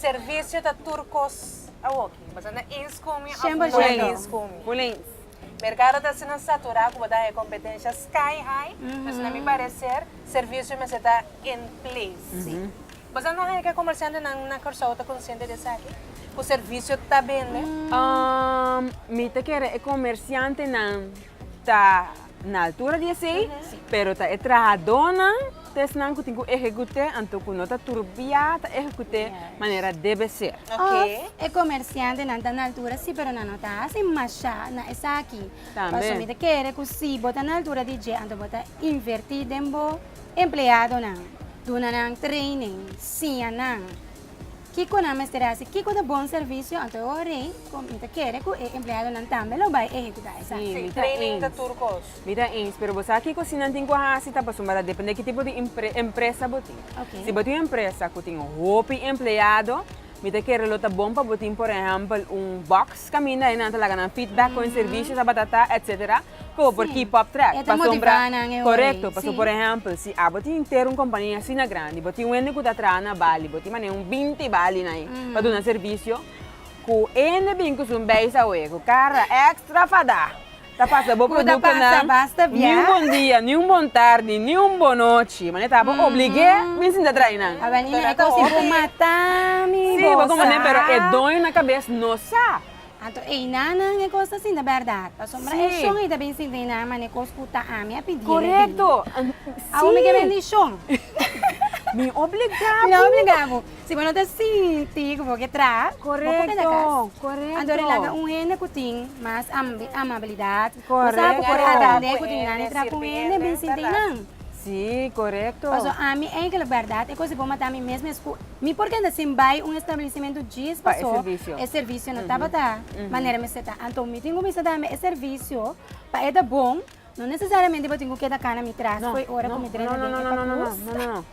Servicio ta tur cos awoki. Basá na Eén Scoomy of no na Eén Scoomy. Bueno, Eén. Mercado ta asina saturá cu bo ta haña competencia sky high. Entonces na mi parecer servicio mester ta en place. Basá no haña cu e comerciantenan na Curaçao ta consciente di esaki? Cu servicio ta bende? Umm, mi ta kere e comerciantenan. ta na altura di esei, pero ta e trahadónan test nan ku tin ku ehekut'é, anto ku no ta turbiá ta ehekut'é manera debe ser. Òf e komersiantenan ta na altura si, pero nan no ta hasi mashá na esaki. Tambe. Pasobra mi ta kere ku si bo ta na altura di dje, anto bo ta invertí den bo empleadonan, duna nan training, siña nan. Kiko nan mester hasi? Kiko ta bon servisio? Anto e ora ei ku mi ta kere ku e empleadonan tambe lo bai ehekutá esaki. Sí, mi ta ens. Mi ta ens. Pero bo sa kiko? Si nan tin ku hasi ta pasobra ta dependé ki tipo di empresa bo tin. Si bo tin un empresa ku tin hopi empleado, mi ta kere lo ta bon pa bo tin, por ehèmpel, un bòks kaminda, ahí nan ta laga nan feedback kon e servisio tabata ta, etsetera. Kobo por keep up track, pasobra, korekto, pasobra por ehèmpel si abo tin henter un kompania asina grandi, bo tin wende ku ta traha na Bali, bo tin manera un binti Bali na ei pa duna servisio, ku e hende bin ku sun beis awe, ku kara èkstra fadá, ta pasa bo produktonan ni un bon dia, ni un bon tardi, ni un bon nochi, manera ta bo oblig'é bin sinta traha einan. Si, bo komo ne'e pero e doño na kabes no sa. Anto einanan e kos ta sinti bèrdat, pasobra e shon ei ta bin sinti einan manera e kos ku ta ami a pidié na e bini. Awor mi ke bendishon. Mi obligá bo. Mi no obligá bo. Si bo no ta sinti ku bo ke traha, bo por keda kas. Anto ri laga un hende ku tin mas amabilidat, Correcto. Por aprende cu tin gana di traha cu hende bin sin tin nan. Si, correcto. Pasobra ami eigenlijk berdad e cos di bo mata mi mes mes cu mi por kenda sin bay un establecimento djis paso e servicio no tabata manera mester ta. Anto mi tin cuminsa dame e servicio pa e ta bon no necesariamente bo tin cu keda cana mi traha scoy ora cu mi drenta den e pacusa.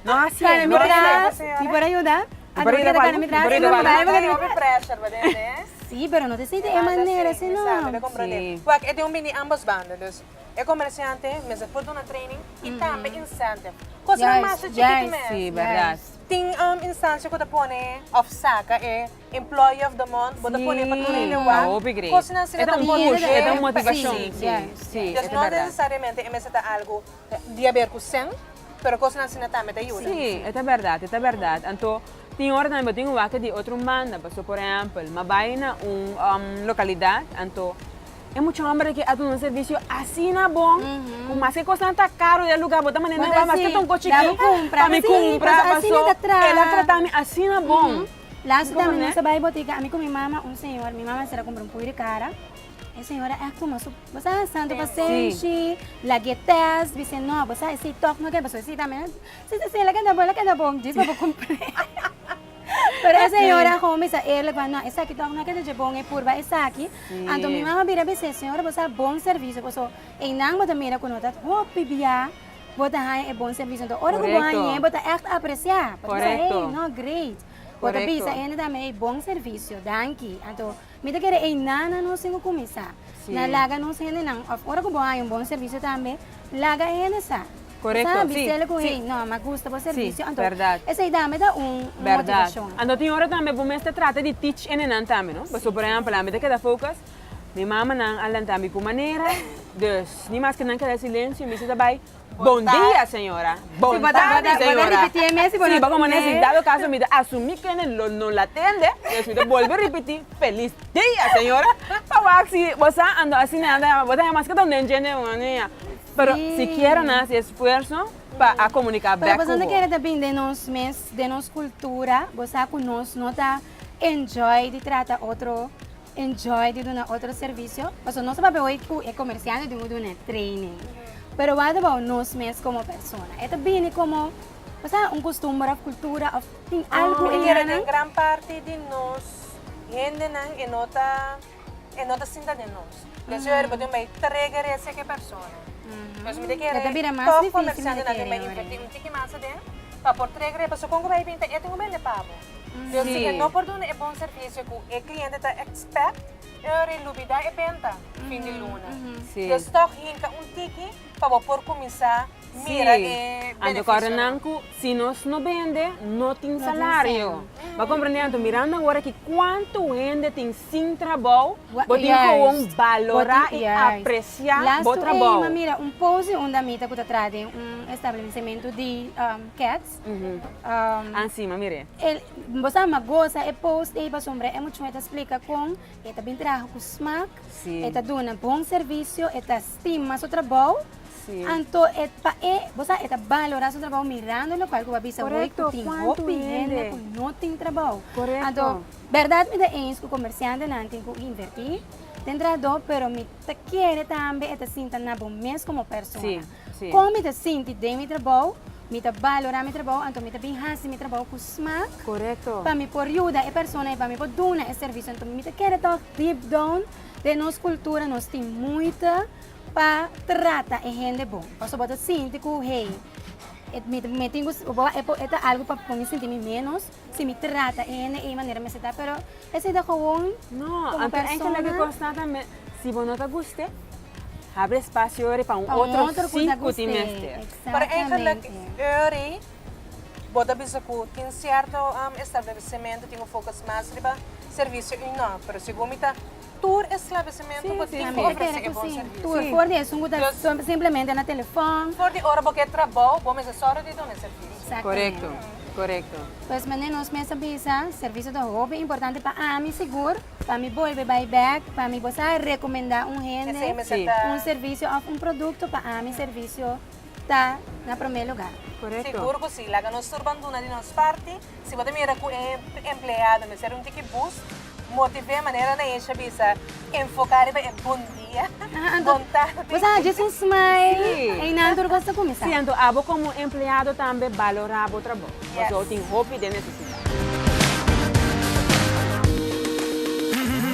No asi. Cana mi traha mi por ayuda? Mi pa rita bali, mi pa rita bali. Manda e hopi pressure pa den ne. Si, pero no ta sinti e manera así no. Exacto, mi ta comprende. Wak, e tin un bini ambos banda. Dus e comerciante mester por duna training y tambe incentive. Cosnan mas chi chikito mes. Si, berdad. Tin instancia cu ta pone of saca e employee of the month, bo ta pone pa tur hende wak. Si, ta hopi gree. Cosnan asina ta push, e ta un motivacion. Si, si, si. E ta berdad. Dus no necesariamente e mester ta algo. Di haber cu sen, pero cosnan asina tambe ta yuda. Sí, e ta berdad, e ta berdad. Anto, tin ora tambe bo tin un wak di otro manda. Paso, por ehempel, m'a bay na un localidad, anto e mucha homber aki a duna un servicio asina bon, cu mas ke cosnan ta caro den e lugar, bo ta manda nan bay, mas ke ta un cos chikí, pa mi cumpra, paso el a trata mi asina bon. Laatste tambe nos a bay botica, ami cu mi mama, un señor, mi mama a ser a cumpra un puy di cara. E señora eh kuma su bo sa santo pasenshi lag'e test bis'e no bo sa esi tog no ke paso esi tambe si si si lag'e dabo lag'e dabo djis bo por cumpli pero e señora gou misa eerlik wou no esaki tog no ke ta dje bon e purba esaki anto mi man a bira bise señora bo sa bon servicio paso eynan bo ta mira ku no ta hopi bia bo ta haña e bon servicio anto ora ku bo hañ'e bo ta echt aprecia bo ta bisa hey no great bo ta bisa ende tambe hey bon servicio danki anto. Mi ta kere ei nana nos tin ku kuminsá na laga nos hendenan òf ora ku bo haña un bon servisio tambe laga e hende sa. Bo ta hambi sele ku hei nò mi a gusta bo servisio anto esei tambe ta un motivashon. Anto tin ora tambe bo mester trata di tich hendenan tambe no pasobra por ehèmpel ami ta keda focus mi mamanan a lanta mi ku manera dus ni mas ke nan keda silensio mi sa ta bai. Bon dia, señora. Bon tarde, señora. Si bo komo nesi dado kaso mi ta asumí kende lo no la tende, pues mi ta bolbe ripití, Felis dia, señora. Pa wak si bo sa ando asina, bo ta haya mas ke todo den djente un ania. Pero sikiera nan hasi esfuerso pa a komuniká bèk ku bo. Pero boso no kere ta binde nos mes, den nos kultura? Bo sa ku nos no ta enjoy di trata otro. enjoy di duna otro servisio pasobra nos a papia hoy cu e comerciante tin cu duna e training pero wou a tabao nos mes como persona e ta bini como pasaba un costumber of cultura of tin algo mi kere den gran parti di nos hendenan e no ta e no ta sinta den nos por eso ora cu tin bay trega rece ki persona por eso mi ta kere toc comerciantenan tin bay inverti un tiki mas aden pa por trega rece pasobra con cu bay a bini ta e tin cu bende pabo. Yo si ke no por duna e bon servisio ku e kliente ta ekspèkt, e lo relubidá e benta fin di luna. Des tòg hinka un tiki pa bo por kuminsá mira e benefisionan. Si nos no bende, no tin salario. Bo komprendé? Anto mirando awor aki kuantu hende tin sin trabou, bo tin gewoon balorá i apresiá bo trabou. Lastu ei, m'a mira un pose unda mi ta ku ta traha den un establesimentu di kèt. Ansima mir'é. Bo sa ma goza e post ei pasobra e muchón e ta splika kon e ta bin traha ku smak, e ta duna bon servisio, e ta stima su trabou, anto e pa e bo sa e ta balorá su trabou mirando lokal ku bo a bisa hoy ku tin hopi hende ku no tin trabou. Anto bèrdat mi ta ins ku komersiantenan tin ku invertí den trahadó pero mi ta kere tambe e ta sinta na bo mes komo persona. Kon mi ta sinti den mi trabou, mi ta balorá mi trabou, anto mi ta bin hasi mi trabou ku smak pa mi por yuda e persona i pa mi por duna e servisio. Anto mi ta kere tòg deep down den nos kultura nos tin muita pa trata e hende bon. Pasobra bo ta sinti ku hey, mi tin ku, bo ta algu pa pone mi sinti mi ménos. Si mi trata hende ei manera mester ta pero esei ta gewoon como persona. No, anto loke cos nada mi si bo no ta guste habri espacio ori pa un otro si cu tin mester. Pero eigenlijk ori bo ta bisa cu tin cierto establecimento tin un focus mas riba servicio y no pero segun mi ta tur eslabesimentu bo tin ku ofresé e bon sirviso. For di esun ku ta simplemente na telefòn. For di ora bo ke trabou, bo mester sòru di duna e sirvisio. Korekto, korekto. Pues manera nos mes a bisa, sirvisio ta hopi importante pa ami sigur, pa mi bolbe bai bèk, pa mi bo sa rekomendá un hende, un sirvisio òf un produkto pa ami sirvisio. ta na prome lugar. Sigur cu si. Laga nos tur ban duna di nos parti. Si bo ta mira cu e empleado mester un tiki bus, motiv'e manera na echa bisa, enfoca riba e bon dia, bon tardi. Bo sa djis un smile, eynan tur cos ta cuminsa. Si, anto abo como empleado tambe balora bo trabao. Pasobra tin hopi den necesidad.